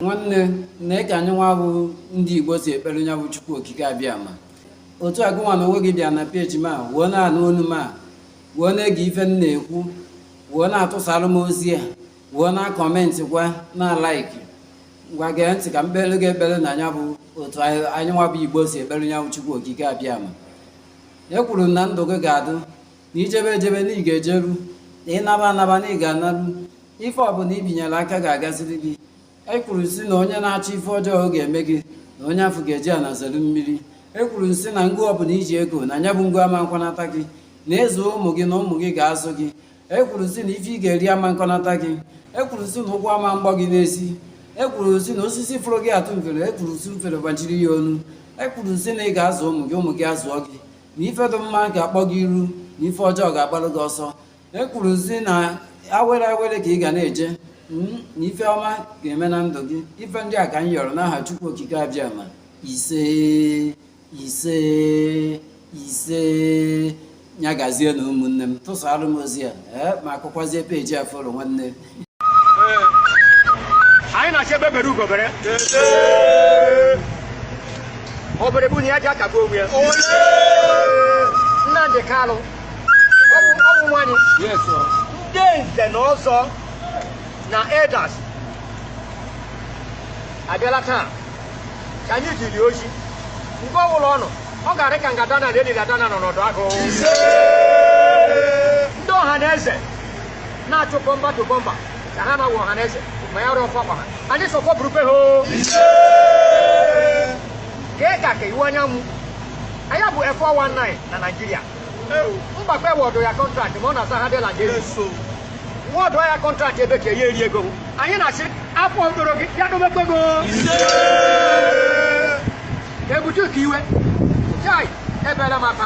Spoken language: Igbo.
nwanne nee ka anyịnwa bụ ndị igbo si ekpere nya bụ chukwu okike abịama otu a gịnwa na onwe gị bịa na peji m a wee na-anụ onu m a wee na-ege ife m na-ekwu wee na-atụsara m ozi a wee na-akọmentịkwa na-alaiki ngwa gee ntị ka m kpeere gị ekpere na ọ nya bụ otu anyịnwa bụ igbo si ekpere nya bụ chukwu okike abịama ekwuru m na ndụ gị ga-adụ na i jebe ejebe na ị ga-ejeru na ị naba anaba na ị ga-anaru ife ọbụla i binyere aka ga-agaziri gị e kwuru si na onye na-achọ ife ọjọọ ọ ga-eme gị na onye afụ ga-eji ana zelu mmiri e kwuru si na ngụ ọbụla i ji ego na anya bụ ngụ ama nkọnata gị na ị zụọ ụmụ gị na ụmụ gị ga-azụ gị e kwuru si na ife ị ga-eri ama nkọnata gị e kwuru si na ụgwọ ama mgbọ gị n'ezi e kwuru si na osisi fụrụ gị atụ mfere e kwuru si mfere gbachiri ya ọnụ e kwuru si na ị ga-azụ ụmụ gị ụmụ gị azụọ gị na ife dị mma ga-akpọ gị iru na ife ọjọọ ga-agbalụ gị ọsọ e kwuru si na awere awere ka ị ga na-eje hmm, na ife ọma ga-eme na ndụ gị ife ndị a ka m yọrọ n'aha Chukwu Okike Abịama isee isee isee ya gazie na ụmụnne m tụsara m ozi a ee eh, ma akụkwazie peji a follow nwanne anyị na-achọ egbe bere ugo bere obere bunye ya ji aka gbuo onwe ya nnamdị kalụ ọnwụ ọnwụ nwanyị ndị nze na ọzọ na elders abịala taa ka anyị ziri ozi mgbe ọbụla ọ nọ ọ ga-adị ka ngada na eliri ada na nọ n'ọdụ agụ ndị ọha na eze na-achụ bumper to bumper ka ha na-awụ ọha na eze ma ya rụọ ọfọ ọkpa ha anyị sọfọ burukwe ha o kee ka ka ịwa anya mụ anya bụ 419 na Naịjirịa mgbakpe wọdụ ya kọntraktị ma ọ na-asa ha dịla gị wọdụ ya kọntraktị ebe ka ya eri ego anyị na-asị afọ mkpụrụ gị ya dobekwa ego ebute ka iwe chai ebere m aka